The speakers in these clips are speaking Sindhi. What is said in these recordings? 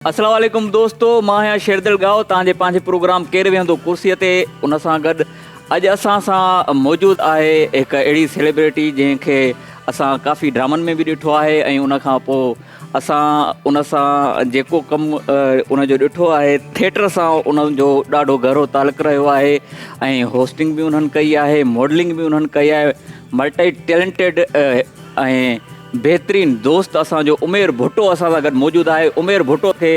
السلام عليڪم دوستو مان آهيان شيردل ڳاهو تان جي پنهنجي پروگرام ڪير ويهندو ڪرسي تي ان سان گڏ اڄ اسان سان موجود آهي هڪ اهڙي سيليبريٽي جنهن کي اسان ڪافي ڊرامن ۾ به ڏٺو آهي ۽ ان کان پوء اسان ان سان جيڪو ڪم ان جو ڏٺو آهي ٿيٽر سان انهن جو ڏاڍو گهرو تعلق رهيو آهي ۽ هوسٽنگ به انهن ڪئي آهي ماڊلنگ به انهن ڪئي آهي ملٽي ٽيلنٽيڊ ۽ بهترين دوست اسان جو عمير ڀٽو اسان سان گڏ موجود آهي عمير ڀٽو کي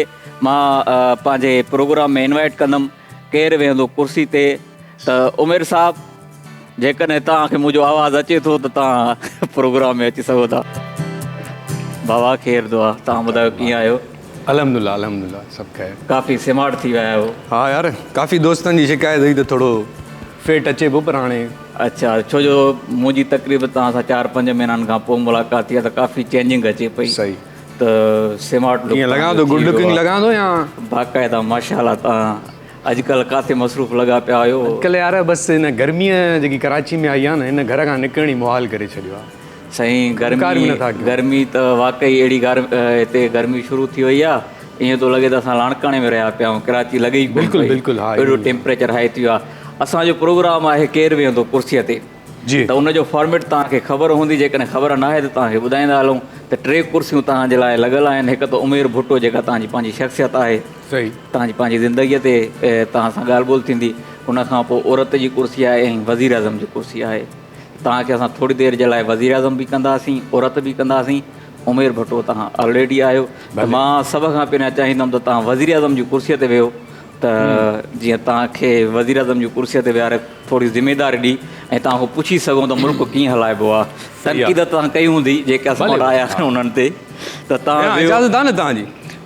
مان پنهنجي پروگرام ۾ انوائٽ ڪندم ڪير ويهندو ڪرسي تي ته عمير صاحب جيڪڏهن توهان کي منهنجو آواز اچي ٿو ته توهان پروگرام ۾ اچي سگهو ٿا بابا خير دعا توهان ٻڌايو ڪيئن آهيو الحمدلله الحمدلله سڀ خير ڪافي سمارٽ ٿي ويا آهيو ها يار ڪافي دوستن جي شڪايت هئي ته ٿورو فيٽ اچي به پر هاڻي. اڇا ڇو جو منهنجي تقريبن توهان سان چار پنج مهينن کان پوء ملاقات ٿي آهي ته ڪافي چينجنگ اچي پئي صحيح ته سمارٽ لڪ ايئن لڳان ٿو گڊ لڪنگ لڳان ٿو يا باقاعده ماشاءالله توهان اڄڪلهه ڪاٿي مصروف لڳا پيا آهيو. اڄڪلهه يار بس هن گرمي جيڪي ڪراچي ۾ آئي آهي نه هن گهر کان نڪرڻ ئي محال ڪري ڇڏيو آهي. سائين گرمي ته واقعي اهڙي هتي گرمي شروع ٿي وئي آهي ايئن ٿو لڳي ته اسان لاڙڪاڻي ۾ رهيا پيا آهيون ڪراچي لڳي ئي ڪونه پئي اهڙو ٽيمپريچر هائي ٿي ويو آهي اسان جو پروگرام آهي ڪير ويهندو ڪرسيء تي ته ان جو فارميٽ توهان کي خبر هوندي جيڪڏهن خبر نه آهي ته توهان کي ٻڌائيندا هلون ته ٽي ڪرسيون توهان جي لاء لڳل آهن هڪ ته عمير ڀٽو جيڪا توهان جي پنهنجي شخصيت آهي توهان جي پنهنجي زندگيء تي توهان سان ڳالهه ٻولهه ٿيندي ان کان پوء عورت جي ڪرسي آهي ۽ وزيراعظم جي ڪرسي آهي توهان کي اسان ٿوري دير جي لاء وزيراعظم به ڪنداسين عورت به ڪنداسين عمير ڀٽو توهان آلريڊي آهيو ته مان سڀ کان پهريان چاهيندم ته توهان وزيراعظم جي ڪرسي تي ويهو ته جيئن توهان کي وزيراعظم جي ڪرسي تي ويهاري ٿوري ذميداري ڏي ۽ توهان کان پڇي سگهون ته ملڪ ڪيئن هلائبو آهي تنقيد توهان ڪئي هوندي جيڪي اسان وٽ آيا آهن انهن تي ته توهان ويهو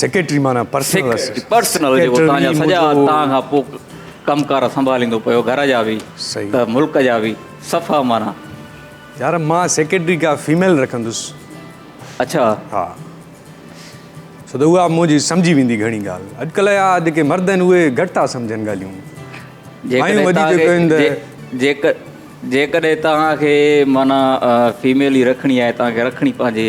سيڪريٽري معنيٰ پرسنل اسسٽنٽ پرسنل جيڪو توهان جا سڄا توهان کان پوء ڪم ڪار سنڀاليندو پيو گهر جا به ته ملڪ جا به صفا معنيٰ. يار مان سيڪريٽري ڪا فيميل رکندس. اڇا. ها ڇو ته اها منهنجي سمجهي ويندي گهڻي ڳالهه اڄڪلهه جا جيڪي مرد آهن اهي گهٽ ٿا سمجهن ڳالهيون مايون وڌيڪ ڪن ته جيڪڏهن جيڪڏهن توهان کي معنيٰ فيميل ئي رکڻي آهي توهان کي رکڻي پنهنجي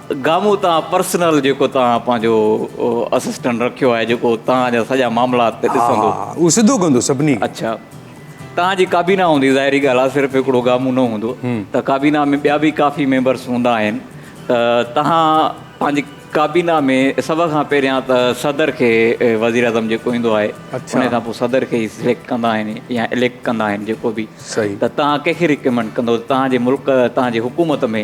گامو تان پرسنل جيڪو توهان پنهنجو اسسٽنٽ رکيو آهي جيڪو توهان جا سڄا معاملا تي ڏسندو ها ها اهو سڌو ڪندو سڀني کي اڇا توهان جي ڪابينا هوندي ظاهري ڳالهه آهي صرف هڪڙو گامو نه هوندو ته ڪابينا ۾ ٻيا به ڪافي ميمبرس هوندا آهن ته توهان پنهنجي ڪابينا ۾ سڀ کان پهريان ته صدر کي وزير اعظم جيڪو ايندو آهي اڇا ان کان پوء صدر کي ئي سليڪٽ ڪندا آهن يا اليڪٽ ڪندا آهن جيڪو به صحيح ته توهان ڪنهن کي ريڪمنڊ ڪندو توهان جي ملڪ توهان جي حڪومت ۾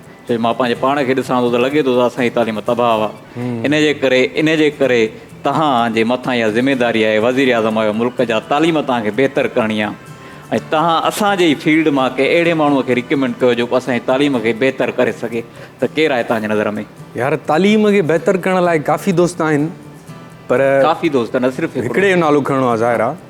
جڏهن مان پنهنجي پاڻ کي ڏسان ٿو ته لڳي ٿو ته اسان جي تعليم تباهه آهي ان جي ڪري ان جي ڪري توهان جي مٿان اها ذميواري آهي وزيراعظم آهيو ملڪ جا تعليم توهان کي بهتر ڪرڻي آهي ۽ توهان اسان جي ئي فيلڊ مان ڪنهن اهڙي ماڻهو کي ريڪمينڊ ڪيو جيڪو اسان جي تعليم کي بهتر ڪري سگهي ته ڪير آهي توهان جي نظر ۾ يار تعليم کي بهتر ڪرڻ لاء ڪافي دوست آهن پر ڪافي دوست نه صرف هڪڙي جو نالو کڻڻو آهي ظاهر آهي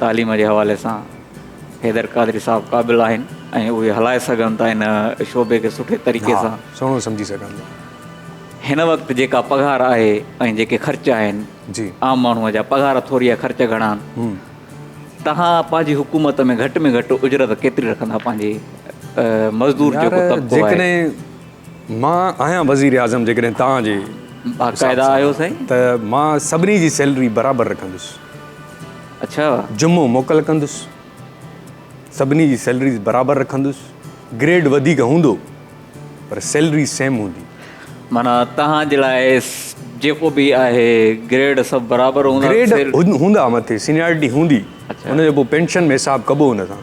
تعليم جي حوالي سان حيدر قادري صاحب قابل آهن ۽ اهي هلائي سگهن ٿا ان شعبي کي سٺي طريقي سان. ها سهڻو سمجهي سگهن ٿا. هن وقت جيڪا پگهار آهي ۽ جيڪي خرچ آهن جي. عام ماڻهو جا پگهار ٿوري ۽ خرچ گهڻا آهن. هم. توهان پنهنجي حڪومت ۾ گهٽ ۾ گهٽ اجرت ڪيتري رکندا پنهنجي مزدور جيڪو طبقو آهي. يار جيڪڏهن. مان آهيان وزير اعظم جيڪڏهن توهان جي حساب سان ته مان سڀني جي سيلري برابر رکندس اڇا جمعو موڪل ڪندس سڀني جي سيلريز برابر رکندس گريڊ وڌيڪ هوندو پر سيلري سيم هوندي. معنيٰ توهان جي لاء جيڪو به آهي گريڊ سڀ برابر هوندا. گريڊ هوندا مٿي سينيارٽي هوندي ان جو پوء پينشن ۾ حساب ڪبو ان سان.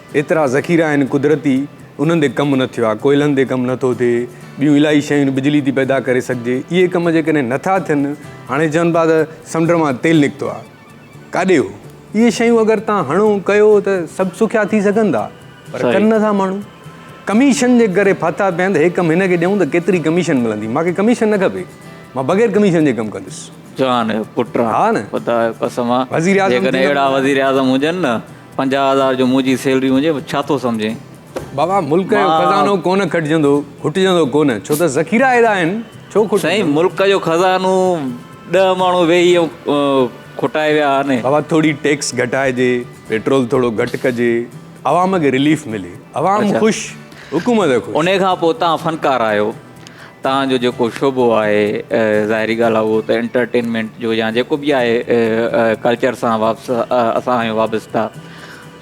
ايترا ذخيرا آهن قدرتي انهن تي ڪم نه ٿيو آهي ڪوئلن تي ڪم نٿو ٿئي ٻيون الاهي شيون بجلي ٿي پيدا ڪري سگهجي اهي ڪم جيڪڏهن نٿا ٿين هاڻي چون پيا ته سمنڊ مان تيل نڪتو آهي ڪاڏي هو اهي شيون اگر تان هڻو ڪيو ته سڀ سکيا ٿي سگهن ٿا پر ڪن نٿا ماڻهو ڪميشن جي ڪري ڦاٿا پيا آهن ته هي ڪم هن کي ڏيون ته ڪيتري ڪميشن ملندي مانکي ڪميشن نه کپي مان بغير ڪميشن جي ڪم ڪندس جان پٽ ها نه خدا قسم وزيراعظم جيڪڏهن اهڙا وزيراعظم هجن نه پنجاهه هزار جو منهنجي سيلري هجي ڇا ٿو سمجهين؟ بابا ملڪ جو خزانو ڪونه کٽجندو کٽجندو ڪونه ڇو ته ذخيرا اهڙا آهن ڇو کٽجندو. سائين ملڪ جو خزانو ڏهه ماڻهو ويهي ائين کٽائي ويا آهن. بابا ٿوري ٽيڪس گهٽائجي پيٽرول ٿورو گهٽ ڪجي عوام کي رليف ملي عوام خوش حڪومت خوش. انهي کان پوء تهان فنڪار آهيو. توهان جو جيڪو شعبو آهي ظاهري ڳالهه آهي اهو ته انٽرٽينمينٽ جو يا جيڪو به آهي ڪلچر سان واپس اسان آهيون وابسته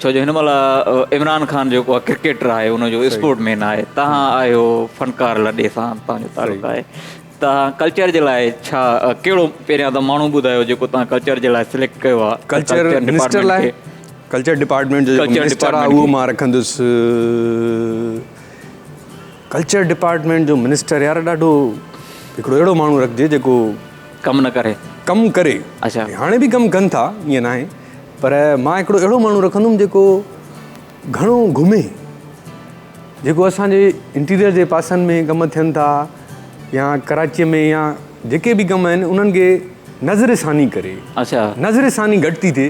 ڇو جو هن مهل عمران خان جيڪو آهي ڪرڪيٽر آهي ان جو اسپورٽ مين آهي تهان آهيو فنڪار لڏي سان توهان جو تعلق آهي توهان ڪلچر جي لاء ڇا ڪهڙو پهريان ته ماڻهو ٻڌايو جيڪو توهان ڪلچر جي لاء سليڪٽ کيو آهي ڪلچر منسٽر لاء ڪلچر ڊپارٽمينٽ جو ڪلچر ڊپارٽمينٽ اهو مان رکندس ڪلچر ڊپارٽمينٽ جو منسٽر يار ڏاڍو هڪڙو اهڙو ماڻهو رکجي جيڪو ڪم نه ڪري ڪم ڪري اڇا هاڻي به ڪم ڪن ٿا ائين ناهي پر مان هڪڙو اهڙو ماڻهو رکندم جيڪو گهڻو گهمي جيڪو اسان جي انٽيريئر جي پاسن ۾ ڪم ٿين ٿا يا ڪراچي ۾ يا جيڪي به ڪم آهن انهن کي نظر ثاني ڪري اڇا نظر ثاني گهٽ ٿي ٿئي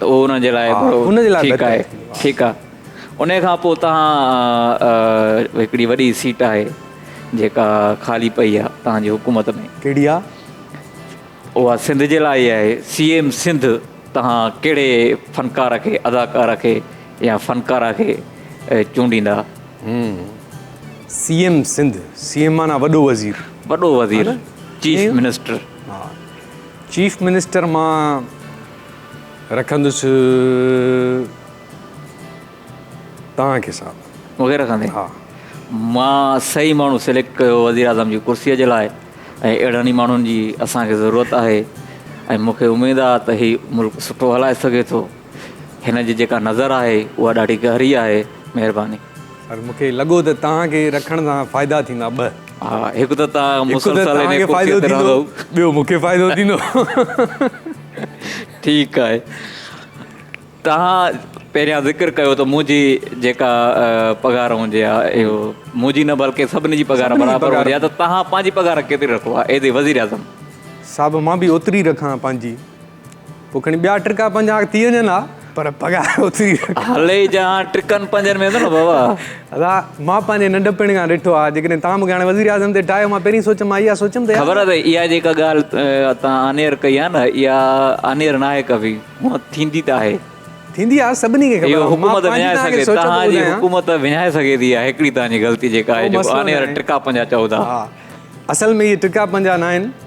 اهو ان جي لاء ٺيڪ آهي. ٺيڪ آهي. ان کان پوء توهان هڪڙي وڏي سيٽ آهي جيڪا خالي پئي آهي توهان جي حڪومت ۾. ڪهڙي آهي؟ اها سنڌ جي لاء ئي آهي. سي ايم سنڌ توهان ڪهڙي فنڪار کي، اداڪار کي يا فنڪاره کي چونڊيندا؟ هم. C M Sindh. C M معنيٰ وڏو وزير. وڏو وزير. Chief minister. چيف منسٽر مان. رکندس توهان کي صاحب. مونکي رکندين ها. مان صحيح ماڻهو سليڪٽ ڪيو وزيراعظم جي ڪرسي جي لاء ۽ اهڙن ئي ماڻهن جي اسان کي ضرورت آهي ۽ مون کي اميد آهي ته هي ملڪ سٺو هلائي سگهي ٿو هن جي جيڪا نظر آهي اها ڏاڍي گهري آهي مهرباني. پر مون کي لڳو ته توهان کي رکڻ سان فائدا ٿيندا ٻه. ها هڪ ته توهان مسلسل انهي ڪرسي تي رهندؤ. ٻيو مون کي فائدو ٿيندو. ٺيڪ آهي توهان پهريان ذڪر ڪيو ته منهنجي جيڪا پگهار هوندي آ اهو منهنجي نه بلڪه سڀني جي پگهار برابر هوندي آ ته توهان پنهنجي پگهار ڪيتري رکو آ ايز اي وزيراعظم؟ صاحب مان به اوتري رکان پنهنجي. پوء کڻي ٻيا ٽرڪا پنجا ٿي وڃن ها پر پگهار اوتري هلي جهان ٽرڪن پنجن ۾ نه بابا ادا مان پنهنجي ننڍپڻ کان ڏٺو آ جيڪڏهن تان مونکي هاڻي وزير اعظم تي ٺاهيو مان پهرين سوچ مان اها سوچم ته خبر اٿئي اها جيڪا ڳالهه تان آنيئر ڪئي آ نه اها آنيئر ناهي ڪبي هونء ٿيندي ته آهي ٿيندي آ سڀني کي خبر آ حڪومت وڃائي سگهي تان جي حڪومت وڃائي سگهي ٿي اها هڪڙي تان جي غلطي جيڪا آهي جو آنيئر ٽرڪا پنجا چئو ٿا اصل ۾ اهي ٽرڪا پنجا ناهن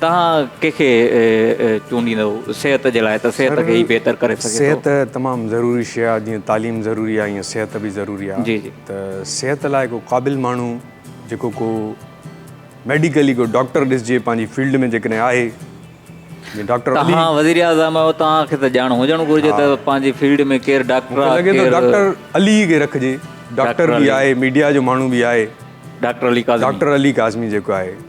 توهان ڪنهن کي چونڊيندؤ صحت جي لاء ته صحت کي ئي بهتر ڪري سگهي ٿو. صحت تمام ضروري شيء آهي جيئن تعليم ضروري آهي ايئن صحت به ضروري آهي جي جي. ته صحت لاء ڪو قابل ماڻهو جيڪو ڪو ميڊيڪلي ڪو ڊاڪٽر ڏسجي پنهنجي فيلڊ ۾ جيڪڏهن آهي جيئن ڊاڪٽر علي. توهان وزير اعظم آهيو توهان کي ته ڄاڻ هجڻ گهرجي ته پنهنجي فيلڊ ۾ ڪير ڊاڪٽر آهي مونکي لڳي ٿو ڊاڪٽر علي کي رکجي ڊاڪٽر به آهي ميڊيا جو ماڻهو به آهي ڊاڪٽر علي ڪاظمي ڊاڪٽر علي ڪاظمي جيڪو آهي.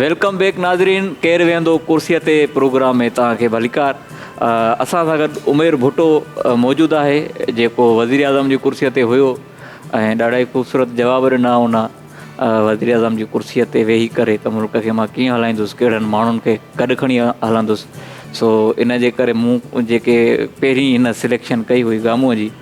ويلڪم بيڪ ناظرين ڪير ويهندو ڪرسي تي پروگرام ۾ توهان کي ڀليڪار اسان سان گڏ عمير ڀٽو موجود آهي جيڪو وزير اعظم جي ڪرسي تي هيو ۽ ڏاڍا ئي خوبصورت جواب ڏنا ان وزير اعظم جي ڪرسي تي ويهي ڪري ته ملڪ کي مان ڪيئن هلائيندس ڪهڙن ماڻهن کي گڏ کڻي هلندس سو ان جي ڪري مون جيڪي پهرين هن سليڪشن ڪئي هئي گامون جي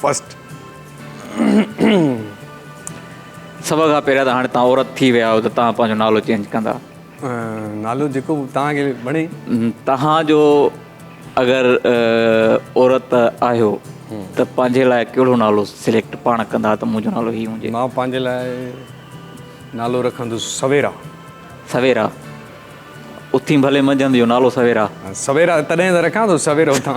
فرسٽ سڀ کان پهريان ته هاڻي تان عورت ٿي ويا آهيو ته تان پنهنجو نالو چينج ڪندا. نالو جيڪو به تان کي وڻي. تان جو اگر عورت آهيو ته پنهنجي لاء ڪهڙو نالو سليڪٽ پاڻ ڪندا ته منهنجو نالو هي هونجي. مان پنهنجي لاء نالو رکندس سويرا. سويرا اٿين ڀلي منجهند جو نالو سويرا. سويرا تڏهن ته رکان ٿو سويرو اٿان.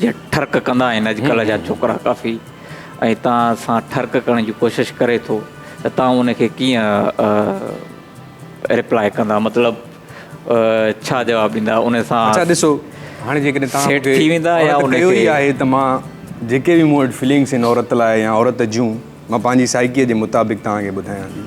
جيئن ٺرڪ ڪندا آهن اڄڪلهه جا ڇوڪرا ڪافي ۽ تان سان ٺرڪ ڪرڻ جي ڪوشش ڪري ٿو ته تان ان کي ڪيئن ريپلائي ڪندا مطلب ڇا جواب ڏيندا ان سان اچا ڏسو هاڻي جيڪڏهن تان سيٽ ٿي ويندا يا ان کي اهي آهي ته مان جيڪي به مون وٽ فلنگس ان عورت لاء يا عورت جون مان پنهنجي سائيڪي جي مطابق تان کي ٻڌايان ٿي.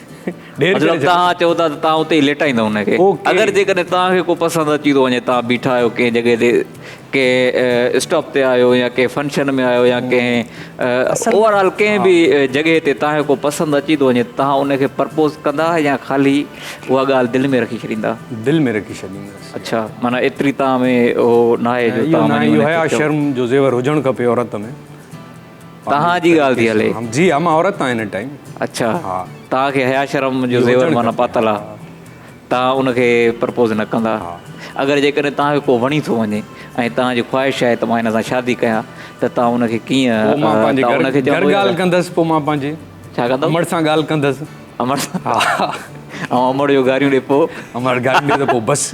مطلب توهان چئو ٿا ته توهان اتي ئي ليٽائيندا ان کي. اگر جيڪڏهن توهان کي ڪو پسند اچي ٿو وڃي، توهان بيٺا آهيو ڪنهن جڳهه تي، ڪنهن اسٽاپ تي آهيو يا ڪنهن فنڪشن ۾ آهيو يا ڪنهن اوور آل ڪنهن به جڳهه تي توهان کي ڪو پسند اچي ٿو وڃي ته توهان ان کي پرپوز ڪندا يا خالي اها ڳالهه دل ۾ رکي ڇڏيندا؟ دل ۾ رکي ڇڏيندس. اڇا، معنيٰ ايتري توهان ۾ اهو ناهي جو توهان وڃي ان کي چئو. اهو ناهي، اهو حيا شرم جو زيور هجڻ کپي عورت ۾. تهان جي ڳالهه ٿي هلي. جي ها مان عورت آهيان هن ٽائيم. اڇا تهان کي حياء شرم جو زيور معنيٰ پاتل آ تهان ان کي پرپوز نه ڪندا اگر جيڪڏهن تهان کي ڪو وڻي ٿو وڃي ۽ تهان جي خواهش آهي ته مان هن سان شادي ڪيان ته تهان ان کي ڪيئن پو مان پنهنجي گهر ڳالهه ڪندس پو مان پنهنجي ڇا ڪندو امڙ سان ڳالهه ڪندس امڙ سان ها ها اوهان امڙ جو گاريون ڏي پو امڙ گاريون ڏي ته پو بس.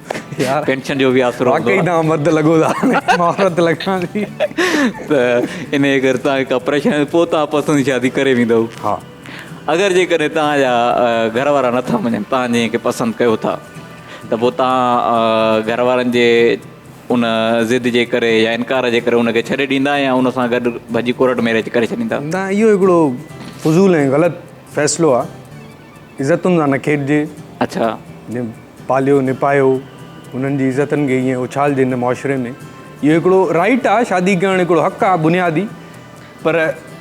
پينشن جو به آسرو هوندو آهي. واقعي توهان مرد لڳو ٿا مان عورت لڳان ٿي. ته انهيء ڪري توهان کي ڪا پريشاني نه پوء توهان پسند جي شادي ڪري ويندؤ. ها. اگر جيڪڏهن توهان جا گهر وارا نه ٿا مڃن توهان جنهن کي پسند ڪيو ٿا ته پوء توهان گهر وارن جي ان ضد جي ڪري يا انڪار جي ڪري ان کي ڇڏي ڏيندا يا ان سان گڏ ڀڄي ڪورٽ ميريج ڪري ڇڏيندا. نه اهو هڪڙو فضول ۽ غلط فيصلو آهي. عزتن سان نه کيڏجي. اڇا. نه پاليو نه پايو انهن جي عزتن کي ائين اڇالجي هن معاشري ۾ اهو هڪڙو رائيٽ آ شادي ڪرڻ هڪڙو حق آ بنيادي پر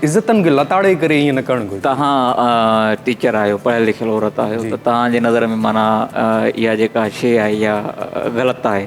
عزتن کي لتاڙي ڪري ائين نه ڪرڻ گهرجي. تهان ٽيچر آهيو پڙهيل لکيل عورت آهيو ته تهان جي نظر ۾ معنيٰ اها جيڪا شيء آهي اها غلط آهي.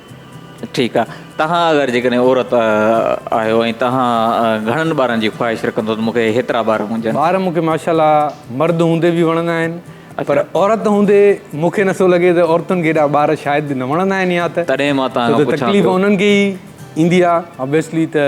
ٺيڪ آ توهان اگر جيڪڏهن عورت آهيو ۽ توهان گهڻن ٻارن جي خواهش رکندو ته مونکي هيترا ٻار هونجن. ٻار مونکي ماشاءالله مرد هوندي به وڻندا آهن پر عورت هوندي مونکي نه ٿو لڳي ته عورتن کي هيڏا ٻار شايد نه وڻندا آهن يا ته تڏهن مان توهان کان پڇان ٿو. ڇو ته تڪليف انهن کي ئي ايندي آ ابويسلي ته.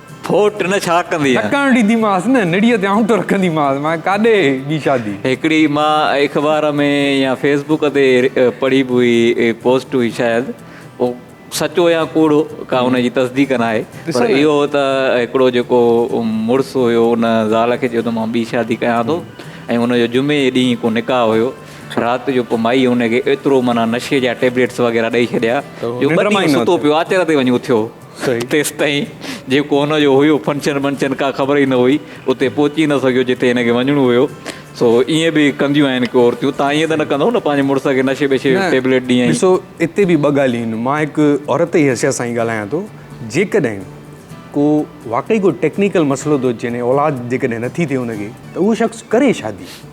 ڦوٽ نه ڇا ڪندينء. نه ڪرڻ ڏينديمانس نه نڙيء تي آنٽو رکنديمانس. مانء ڪاڏي جي شادي. هڪڙي ماء اخبار ۾ يا فيس بوڪ تي پڙهي به هئي پوسٽ هئي شايد اهو سچو يا ڪوڙو ڪا ان جي تصديق ناهي پر اهو ته هڪڙو جيڪو مڙس هيو ان زال کي چيو ته مان ٻي شادي ڪيان ٿو ۽ ان جو جمعي جي ڏينهن ڪو نڪاح هيو رات جو پوء مائي ان کي ايترو معنيٰ نشي جا ٽيبليٽس وغيره ڏئي ڇڏيا جو ٻه ڏينهن ستو پيو آچر تي وڃي اٿيو. تيستائين جيڪو هن جو هيو فنڪشن ٻنڪشن ڪا خبر ئي نه هئي. اتي پهچي نه سگهيو جتي هن کي وڃڻو هيو. سو ائين به ڪنديون آهن ڪي عورتيون. تان ائين ته نه ڪندؤ نه پنهنجي مڙس کي نشي بشي جو ٽيبليٽ ڏينئين. ڏسو اتي به ٻه ڳالهيون آهن. مان هڪ عورت جي حيثيت سان هي ڳالهايان ٿو. جيڪڏهن ڪو واقعي ڪو ٽيڪنيڪل مسئلو ٿو اچي يعني اولاد جيڪڏهن نٿي ٿئي ان کي ته اهو شخص ڪري شادي.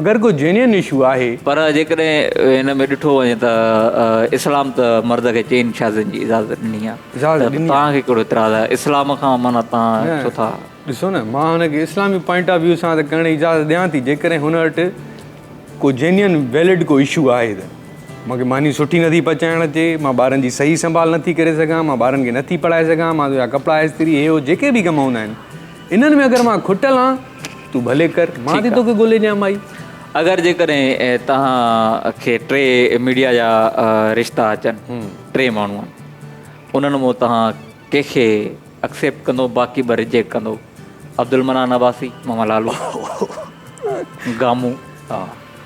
اگر ڪو جينين اشو آهي. پر جيڪڏهن هن ۾ ڏٺو وڃي ته اسلام ته مرد کي چئن شادين جي اجازت ڏني آهي ته توهان کي ڪهڙو اعتراض آهي اسلام کان معنيٰ توهان ڇو ٿا. ڏسو نه مان هن کي اسلامي پوائنٽ آف ويو سان ته ڪرڻ جي اجازت ڏيان ٿي جيڪڏهن هن وٽ ڪو جينين ويلڊ ڪو اشو آهي ته مون کي ماني سٺي نٿي پچائڻ اچي مان ٻارن جي صحيح سنڀال نٿي ڪري سگهان مان ٻارن کي نٿي پڙهائي سگهان مان تنهنجا ڪپڙا استري هي هو جيڪي به ڪم هوندا آهن انهن ۾ اگر مان کٽل آن، تون ڀلي ڪر، مان ٿي توکي ڳولي ڏيان مائي. اگر جيڪڏهن توهان کي ٽي ميڊيا جا رشتا اچن، ٽي ماڻهو آهن، انهن مان توهان ڪنهن کي اڪسيپٽ ڪندو باقي ٻه ريجيڪٽ ڪندو، عبدالمنان عباسي، ماما لالو، گامو.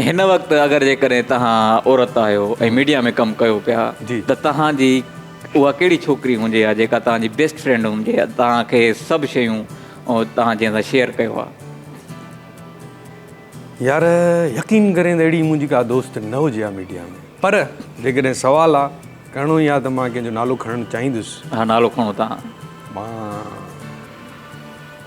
هن وقت اگر جيڪڏهن توهان عورت آهيو ۽ ميڊيا ۾ ڪم ڪيو پيا ته توهان جي اها ڪهڙي ڇوڪري هجي ها جيڪا توهان جي بيسٽ فرينڊ هجي ها توهان کي سڀ شيون توهان جنهن سان شيئر ڪيو ها. يار يقين ڪرين ته اهڙي منهنجي ڪا دوست نه هجي ها ميڊيا ۾ پر جيڪڏهن سوال آ ڪرڻو ئي آ ته مان ڪنهن جو نالو کڻڻ چاهيندس. ها نالو کڻو توهان. مان.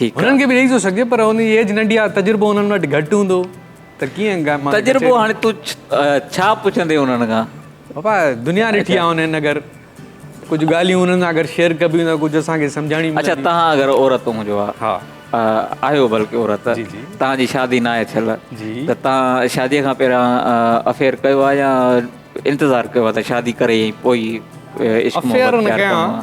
هنن کي به ڏئي ٿو سگهجي پر هنن جي ايج ننڍي آهي تجربو هنن وٽ گهٽ هوندو ته ڪيئن ڳائي تجربو هاڻي تون ڇا پڇندين هنن کان پاپا دنيا ڏٺي آهي هنن اگر ڪجهه ڳالهيون هنن سان اگر شيئر ڪبيون ته ڪجهه اسان کي سمجهاڻي ملندي اڇا تهان اگر عورت هجو ها ها آهيو بلڪه عورت تهان جي شادي ناهي ٿيل ته تهان شادي کان پهريان افيئر ڪيو آهي يا انتظار ڪيو آهي ته شادي ڪري ۽ پوئي عشق محبت ڪيو آهي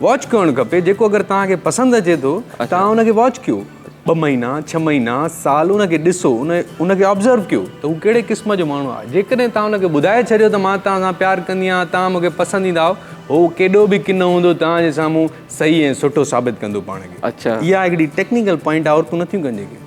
واچ ڪرڻ کپي جيڪو اگر توهان کي پسند اچي ٿو توهان ان کي واچ ڪيو ٻه مهينا ڇهه مهينا سال ان کي ڏسو ان ان کي آبزرو ڪيو ته هو ڪهڙي قسم جو ماڻهو آهي جيڪڏهن توهان ان کي ٻڌائي ڇڏيو ته مان توهان سان پيار ڪندي آهيان توهان مون کي پسند ايندا آهو هو ڪيڏو به ڪنو هوندو توهان جي سامهون صحيح ۽ سٺو ثابت ڪندو پاڻ کي اها هڪڙي ٽيڪنيڪل پوائنٽ عورتون نٿيون ڪن جيڪي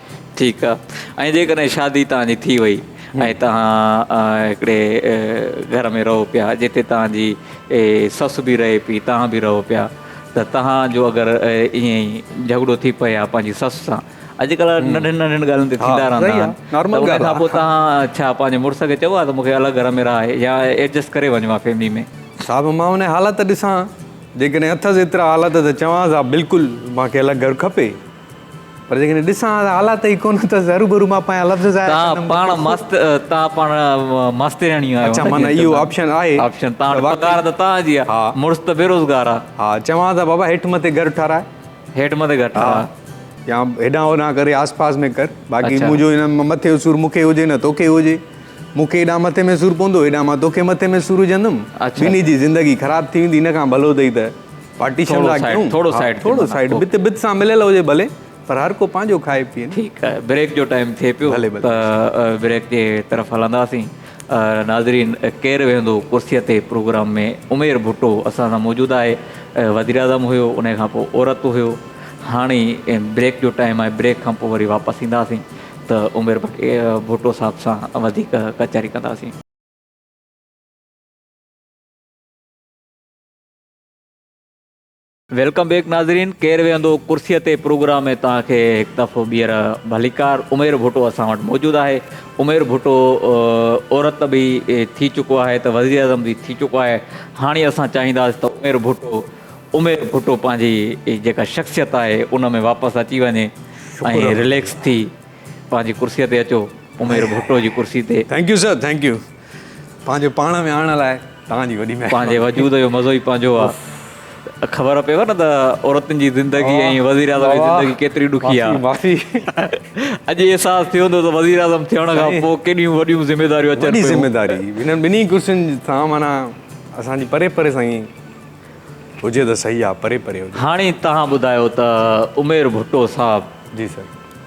ٺيڪ آ ۽ جيڪڏهن شادي توهان جي ٿي وئي ۽ توهان هڪڙي گهر ۾ رهو پيا جتي توهان جي سس به رهي پي توهان به رهو پيا ته توهان جو اگر ائين ئي جهڳڙو ٿي پئي ها پنهنجي سس سان اڄڪلهه ننڍين ننڍين ڳالهين تي ٿيندا رهندا آهن ته ان کان پوء توهان ڇا پنهنجي مڙس کي چئبو آهي ته مون کي الڳ گهر ۾ رهاء يا ايڊجسٽ ڪري وڃ مان فيملي ۾ صاحب مان انهي حالت ڏسان جيڪڏهن اٿس ايترا حالت ته چوانس ها بلڪل مان کي الڳ گهر کپي. پر جيڪڏهن ڏسان ها ته حالات ئي ڪونه ته هرو ڀرو مان پنهنجا لفظ ظاهر ڪندم. توهان پاڻ ماست توهان پاڻ ماسترياڻي آهيو. اڇا معنيٰ اهو آپشن آهي. آپشن توهان وٽ پگهار ته توهان جي آهي. مڙس ته بيروزگار آهي. ها چوان ته بابا هيٺ مٿي گهر ٺهراء. هيٺ مٿي گهر ٺهراء. يا هيڏانهن هوڏانهن ڪري آس پاس ۾ ڪر. باقي منهنجو هن ۾ مٿي جو سور مون کي هجي نه توکي هجي. مون کي هيڏانهن مٿي ۾ سور پوندو هيڏانهن مان توکي مٿي ۾ سور وجهندم. ٻنهي جي زندگي خراب ٿي ويندي ان کان ڀلو اٿئي ته. پارٽيشن لاء ڪيون ٿورو سائيڊ ٿورو سائيڊ بت بت سان مليل هجي ڀلي پر هر ڪو پنهنجو کائي پيئي ٺيڪ آهي بريڪ جو ٽائيم ٿئي پيو بريڪ جي طرف هلنداسين ناظرين ڪير ويهندو ڪرسي تي پروگرام ۾ عمير ڀٽو اسان سان موجود آهي وزيراعظم هيو ان کان پوء عورت هيو هاڻي بريڪ جو ٽائيم آهي بريڪ کان پوء وري واپس اينداسين ته عمير ڀٽو صاحب سان وڌيڪ ڪچهري ڪنداسين ويلڪم بيڪ ناظرين ڪير ويهندو ڪرسي تي پروگرام ۾ توهان کي هڪ دفعو ٻيهر ڀليڪار عمير ڀٽو اسان وٽ موجود آهي عمير ڀٽو عورت به ٿي چڪو آهي ته وزير اعظم به ٿي چڪو آهي هاڻي اسان چاهينداسي ته عمير ڀٽو عمير ڀٽو پنهنجي جيڪا شخصيت آهي ان ۾ واپس اچي وڃي ۽ ريليڪس ٿي پنهنجي ڪرسي تي اچو عمير ڀٽو جي ڪرسي تي thank you sir thank you پنهنجو پاڻ ۾ آڻڻ لاء توهان جي وڏي مهرباني. پنهنجي وجود جو مزو ئي پنهنجو آ. خبر پيو نه ته عورتن جي زندگي ۽ وزيراعظم جي زندگي ڪيتري ڏکي آ. اڄ احساس ٿيو هوندو ته وزيراعظم ٿيڻ کان پوء ڪيڏيون وڏيون ذميواريون اچن پيون. وڏي ذميواري هنن ٻنهي ڪرسين سان معنيٰ اسان جي پري پري سان ئي هجي ته صحيح آ، پري پري هجي. هاڻي توهان ٻڌايو ته عمير ڀٽو صاحب. جي سر.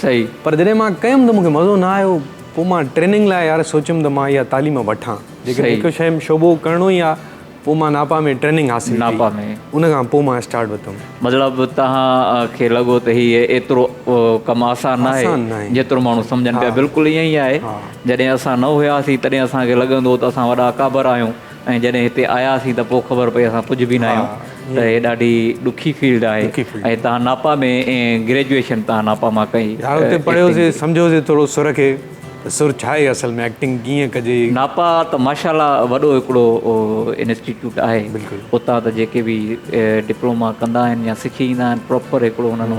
سهي پر جڏهن مان ڪيم ته مون کي مزو نه آيو پوء مان ٽريننگ لاء يار سوچيم ته مان اها تعليم وٺان جيڪڏهن هڪ شيء ۾ شعبو ڪرڻو ئي آهي پوء مان ناپا ۾ ٽريننگ حاصل ڪئي ان کان پوء مان اسٽارٽ وتم. مطلب توهان کي لڳو ته هي ايترو ڪم آسان ناهي جيترو ماڻهو سمجهن پيا بلڪل ائين ئي آهي جڏهن اسان نه هياسين تڏهن اسان کي لڳندو هو ته اسان وڏا اڪابر آهيون. ۽ جڏهن هتي آياسين ته پوء خبر پئي اسان ڪجهه به نه آهيون ته هي ڏاڍي ڏکي فيلڊ آهي ۽ تان ناپا ۾ گريجوئيشن تان ناپا مان ڪئي. يار اتي پڙهيوسين سمجهيوسين ٿورو سر کي ته سر ڇا آهي اصل ۾ ايڪٽنگ ڪيئن ڪجي. ناپا ته ماشاءالله وڏو هڪڙو انسٽيٽيوٽ آهي اتان ته جيڪي به ڊپلوما ڪندا آهن يا سکي ايندا آهن پراپر هڪڙو انهن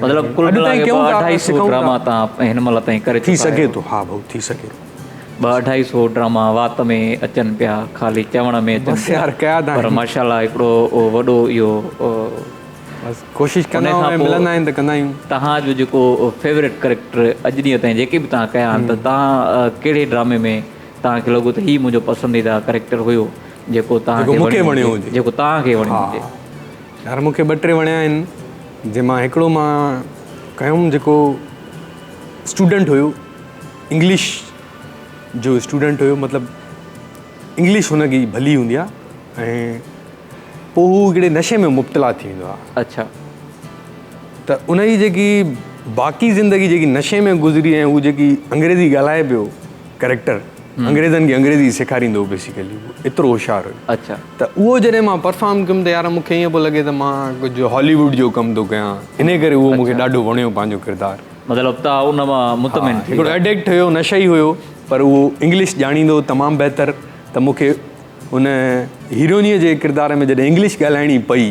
مطلب ڪل ملائي ڪري ٻه اڍائي سئو ڊراما تان هن مهل تائين ڪري چڪا آهيو. ٿي سگهي ٿو ها ڀائو ٿي سگهي ٿو. ٻه اڍائي سئو ڊراما وات ۾ اچن پيا خالي چوڻ ۾ اچن پيا پر ماشاءالله هڪڙو وڏو اهو بس ڪوشش ڪندا آهيون ۽ ملندا آهن ته ڪندا آهيون. تهان جو جيڪو فيورٽ ڪريڪٽر اڄ ڏينهن تائين جيڪي به تهان ڪيا آهن ته تهان ڪهڙي ڊرامي ۾ تهان کي لڳو ته هي منهنجو پسنديده ڪريڪٽر هيو جيڪو تهان کي وڻيو هجي جيڪو تهان کي وڻيو هجي. يار مونکي ٻه ٽي وڻيا آهن جنهن مان هڪڙو مان ڪيوم جيڪو اسٽوڊنٽ هيو انگلش جو اسٽوڊنٽ هيو مطلب انگلش هن جي ڀلي هوندي آهي ۽ پوء هو هڪڙي نشي ۾ مبتلا ٿي ويندو آهي اچا ته ان جي جيڪي باقي زندگي جيڪي نشي ۾ گذري ۽ هو جيڪي انگريزي ڳالهائي پيو ڪريڪٽر انگريزن کي انگريزي سيکاريندو هو بيسيڪلي هو ايترو هوشيار هو اچا ته اهو جڏهن مان پرفارم ڪيم ته يار مونکي ائين پيو لڳي ته مان ڪجهه هالي ووڊ جو ڪم ٿو ڪيان انهي ڪري اهو مونکي ڏاڍو وڻيو پنهنجو ڪردار مطلب تان ان مان مطمئن ٿي هڪڙو ايڊڪٽ هيو نشئي هيو پر اهو انگلش ڄاڻيندو هو تمام بهتر ته مونکي ان هيروئنيء جي ڪردار ۾ جڏهن انگلش ڳالهائڻي پئي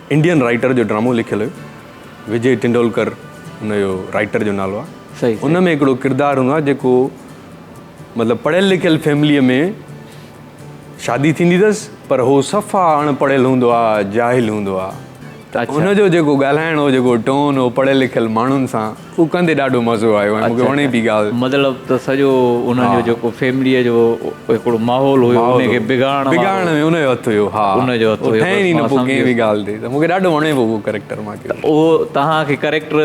انڊين رائٽر جو ڊرامو لکيل هيو وجي ٽنڊولڪر ان جو رائٽر جو نالو آهي ان ۾ هڪڙو ڪردار هوندو آهي جيڪو مطلب پڙهيل لکيل فيمليء ۾ شادي ٿيندي اٿس پر هو صفا اڻ پڙهيل هوندو آهي جاهل هوندو آهي ته ان جو جيڪو ڳالهائڻ هو جيڪو ٽون هو پڙهيل لکيل ماڻهن سان اهو ڪندي ڏاڍو مزو آيو ۽ مون کي وڻي پي ڳالهه. مطلب ته سڄو انهن جو جيڪو فيمليء جو هڪڙو ماحول هيو ان کي بگاڙڻ وارو. بگاڙڻ ۾ ان جو هٿ هيو ها. ان جو هٿ هيو. ٺهين ئي نه پيو ڪنهن به ڳالهه تي ته مون کي ڏاڍو وڻي پيو اهو ڪريڪٽر مان ڪيو. اهو توهان کي ڪريڪٽر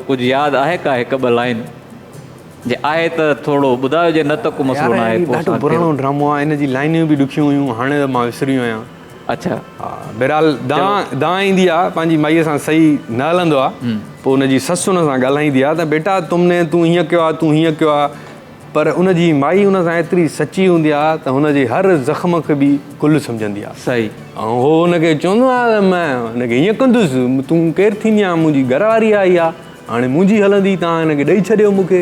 ڪجهه ياد آهي ڪا هڪ ٻه لائين جي آهي ته ٿورو ٻڌايو جي نه ته ڪو مسئلو ناهي. يار هي ڏاڍو پراڻو ڊرامو آهي ان جي لائنيون به ڏکيون هيون هاڻي ته مان وسري ويو آهيان. اڇا بهرحال دانهن دانهن ايندي آ پنهنجي مائي سان صحيح نه هلندو آ پوء ان جي سس ان سان ڳالهائيندي آ ته بيٽا تم ني تون هيئن ڪيو آ تون هيئن ڪيو آ پر ان جي مائي ان سان ايتري سچي هوندي آ ته هن جي هر زخم کي به گل سمجهندي آ صحيح ۽ هو ان کي چوندو آ ته مان ان کي هيئن ڪندس تون ڪير ٿيندي آ منهنجي گهر واري آئي آ هاڻي منهنجي هلندي تان هن کي ڏئي ڇڏيو مون کي.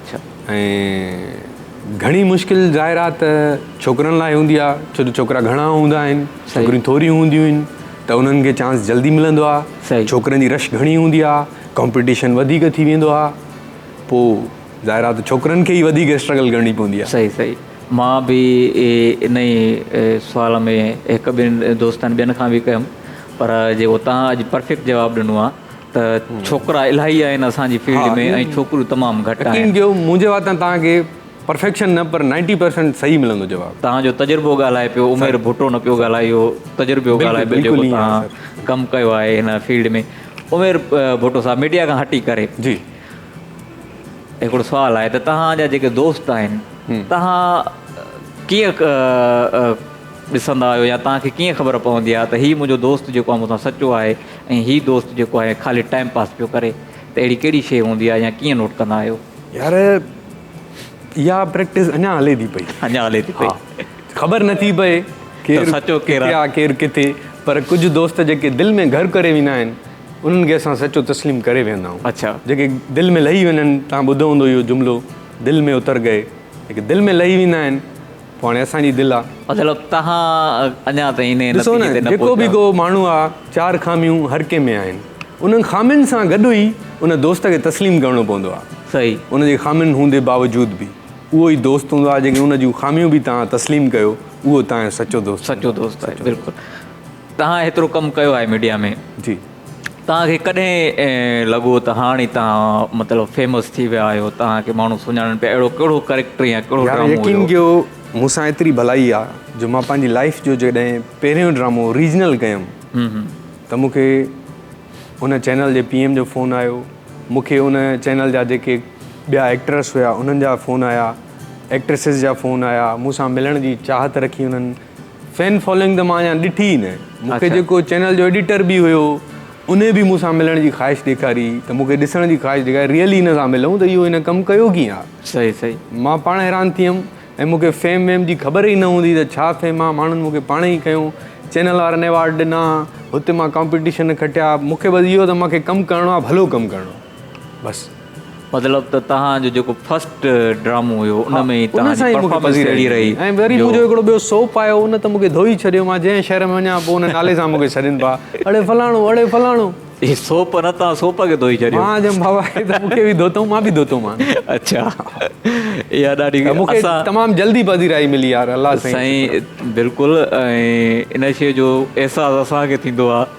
اڇا ۽ گهڻي مشڪل ظاهر آ ته ڇوڪرن لاء هوندي آ ڇو ته ڇوڪرا گهڻا هوندا آهن ڇوڪريون ٿوريون هونديون آهن ته انهن کي چانس جلدي ملندو آ ڇوڪرن جي رش گهڻي هوندي آ ڪمپيٽيشن وڌيڪ ٿي ويندو آ پو ظاهر آ ته ڇوڪرن کي ئي وڌيڪ اسٽرگل ڪرڻي پوندي آ. صحيح صحيح مان به انهي سوال ۾ هڪ ٻن دوستن ٻين کان به ڪيم پر جيڪو تهان اڄ پرفيڪٽ جواب ڏنو آ. ته ڇوڪرا الاهي آهن اسان جي فيلڊ ۾ ۽ ڇوڪريون تمام گهٽ آهن. يقين ڪيو منهنجي واتان توهان کي پرفيڪشن نه پر نائنٽي پرسنٽ صحيح ملندو جواب. توهان جو تجربو ڳالهائي پيو عمير ڀٽو نه پيو ڳالهائي اهو تجربو ڳالهائي پيو جيڪو توهان ڪم ڪيو آهي هن فيلڊ ۾ عمير ڀٽو صاحب ميڊيا کان هٽي ڪري هڪڙو سوال آهي ته توهان جا جيڪي دوست آهن توهان ڪيئن ڏسندا آهيو يا توهان کي ڪيئن خبر پوندي آهي ته هي منهنجو دوست جيڪو آهي مون سان سچو آهي. ۽ هي دوست جيڪو آهي خالي ٽائيم پاس پيو ڪري ته اهڙي ڪهڙي شيء هوندي آهي يا ڪيئن نوٽ ڪندا آهيو؟ يار اها پريڪٽس اڃا هلي ٿي پئي. اڃا هلي ٿي پئي. خبر نٿي پئي ڪير ڪٿي آ ڪير ڪٿي پر ڪجهه دوست جيڪي دل ۾ گهر ڪري ويندا آهن انهن کي اسان سچو تسليم ڪري ويهندا آهيون جيڪي دل ۾ لهي وڃن تهان ٻڌو هوندو اهو جملو دل مين اتر گئي جيڪي دل ۾ لهي ويندا آهن پاڻي اسان جي دل آ. مطلب تهان اڃا تائين انهيء نتيجي تي نه پهتا. ڏسو نه، جيڪو به ڪو ماڻهو آ، چار خاميون هر ڪنهن ۾ آهن. انهن خامين سان گڏ ئي ان دوست کي تسليم ڪرڻو پوندو آ. صحيح. ان جي خامين هوندي باوجود به اهو ئي دوست هوندو آ، جيڪي ان جون خاميون به تهان تسليم ڪيو، اهو تهان جو سچو دوست هوندو آ. سچو دوست آهي، بلڪل. تهان ايترو ڪم ڪيو آهي ميڊيا ۾. جي. توهان کي ڪڏهن ائين لڳو ته هاڻي توهان مطلب فيمس ٿي ويا آهيو، توهان کي ماڻهو سڃاڻن پيا، اهڙو ڪهڙو ڪريڪٽر يا ڪهڙو يار ڊرامو يقين هيو؟ ڪيو مون سان ايتري ڀلائي آ جو مان پنهنجي لائيف جو جڏهن پهريون ڊرامو ريجنل ڪيم ته مون کي ان چينل جي پي ايم جو فون آيو مون کي ان چينل جا جيڪي ٻيا ايڪٽرس هيا انهن جا فون آيا ايڪٽرسز جا فون آيا مون سان ملڻ جي چاهت رکي انهن فين فالوئنگ ته مان اڃا ڏٺي ئي نه. مون کي جيڪو چينل جو ايڊيٽر به هيو انهي به مون سان ملڻ جي خواهش ڏيکاري ته مون کي ڏسڻ جي خواهش ڏيکاري ريئلي هن سان ملون ته اهو هن ڪم ڪيو ڪيئن آ. صحيح صحيح. مان پاڻ حيران ٿي ويم ۽ مون کي فيم ويم جي خبر ئي نه هوندي ته ڇا فيم آ ماڻهن مون کي پاڻ ئي کنيو چينل وارن ايوارڊ ڏنا هتي مان ڪامپيٽيشن کٽيا مون کي بس اهو ته مان کي ڪم ڪرڻو آ ڀلو ڪم ڪرڻو آ. بس مطلب ته توهان جو جيڪو فرسٽ ڊرامو هيو ان ۾ ئي توهان جي پرفارمنس اهڙي رهي ۽ وري منهنجو هڪڙو ٻيو سوپ آيو ان ته مونکي ڌوئي ڇڏيو مان جنهن شهر ۾ وڃان پوء ان نالي سان مونکي سڏين پيا اڙي فلاڻو اڙي فلاڻو هي سوپ نه توهان سوپ کي ڌوئي ڇڏيو مان چيم بابا هي ته مونکي به ڌوتائون مان به ڌوتو مان اڇا اها ڏاڍي مونکي تمام جلدي پذيرائي ملي يار الله سائين سائين بلڪل ۽ ان شيء جو احساس اسان کي ٿيندو آهي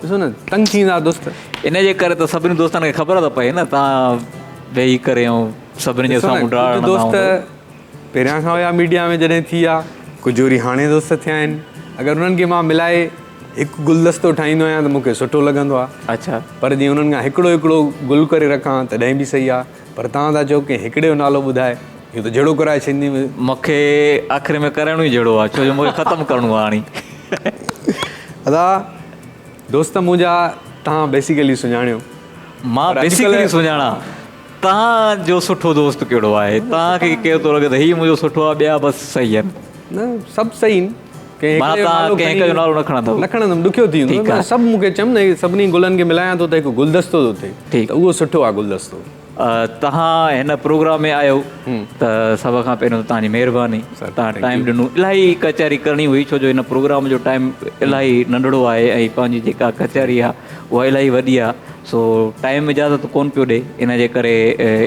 ڏسو نه تنگ ٿيندا دوست. ان جي ڪري ته سڀني دوستن کي خبر ته پئي نه تان ويهي ڪري ائون سڀني جي سامهون ڊاڙ هڻندا هوندو. ڪجهه دوست پهريان کان هيا ميڊيا ۾ جڏهن ٿي ويا ڪجهه وري هاڻي دوست ٿيا آهن اگر انهن کي مان ملائي هڪ گلدستو ٺاهيندو آهيان ته مون کي سٺو لڳندو آهي پر جي انهن کان هڪڙو هڪڙو گل ڪري رکان تڏهن به سهي آهي پر توهان ٿا چئو ڪنهن هڪڙي جو نالو ٻڌائي اهو ته جهيڙو ڪرائي سنڌي ۾. مونکي آخر ۾ ڪرڻو ئي جهيڙو آ ڇو جو مونکي ختم ڪرڻو آ هاڻي. ادا دوست منهنجا تهان بيسيڪلي سڃاڻيو. مان بيسيڪلي سڃاڻا تهان جو سٺو دوست ڪهڙو آهي تهان کي ڪير ٿو لڳي ته هي منهنجو سٺو آ ٻيا بس صحيح آهن. نه سڀ صحيح آهن. مان تان ڪنهن هڪ جو نالو نه کڻندو. نه کڻندم ڏکيو ٿي ويندو. مان سڀ مون کي چيم نه هي سڀني گلن کي ملايان ٿو ته هڪ گلدستو ٿو ٿئي ته اهو سٺو آهي گلدستو. تهان هن پروگرام ۾ آيو ته سڀ کان پهريون ته تهانجي مهرباني تهان ٽائيم ڏنو الاهي ڪچهري ڪرڻي هئي ڇو جو هن پروگرام جو ٽائيم الاهي ننڍڙو آهي ۽ پنهنجي جيڪا ڪچهري آهي اها الاهي وڏي آهي سو ٽائيم اجازت ڪون پيو ڏي ان جي ڪري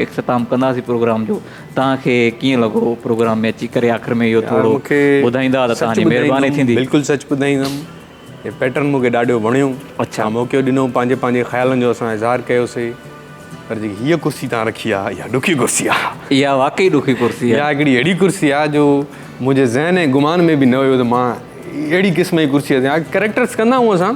اختتام ڪنداسين پروگرام جو. توهان کي ڪيئن لڳو پروگرام ۾ اچي ڪري آخر ۾ اهو ٿورو ٻڌائيندا ته توهان جي مهرباني ٿيندي. بلڪل سچ ٻڌائيندم هي پيٽرن مونکي ڏاڍو وڻيو توهان موقعو ڏنو پنهنجي پنهنجي خيالن جو اسان اظهار ڪيوسي پر جيڪي هيء ڪرسي توهان رکي آ اها ڏکي ڪرسي آ اها واقعي ڏکي ڪرسي آ اها هڪڙي اهڙي ڪرسي آ جو منهنجي ذهن ۽ گمان ۾ به نه هيو ته مان اهڙي قسم جي ڪرسي تي آ ڪريڪٽرس ڪندا آهيون اسان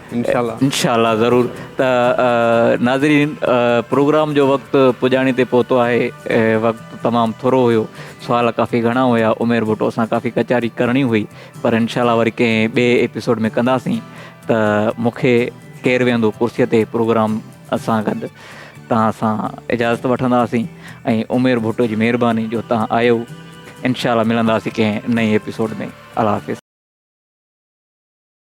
انشاء الله. انشاء الله ضرور ته ناظرين پروگرام جو وقت پڄاڻي تي پهتو آهي وقت تمام ٿورو هيو سوال ڪافي گهڻا هيا عمير ڀٽو سان ڪافي ڪچهري ڪرڻي هئي پر انشاء الله وري ڪنهن ٻئي ايپيسوڊ ۾ ڪنداسين ته مونکي ڪير ويهندو ڪرسي تي پروگرام سان گڏ توهان سان اجازت وٺنداسين ۽ عمير ڀٽو جي مهرباني جو توهان آيو انشاء الله ملنداسين ڪنهن نئين ايپيسوڊ ۾ الله حافظ.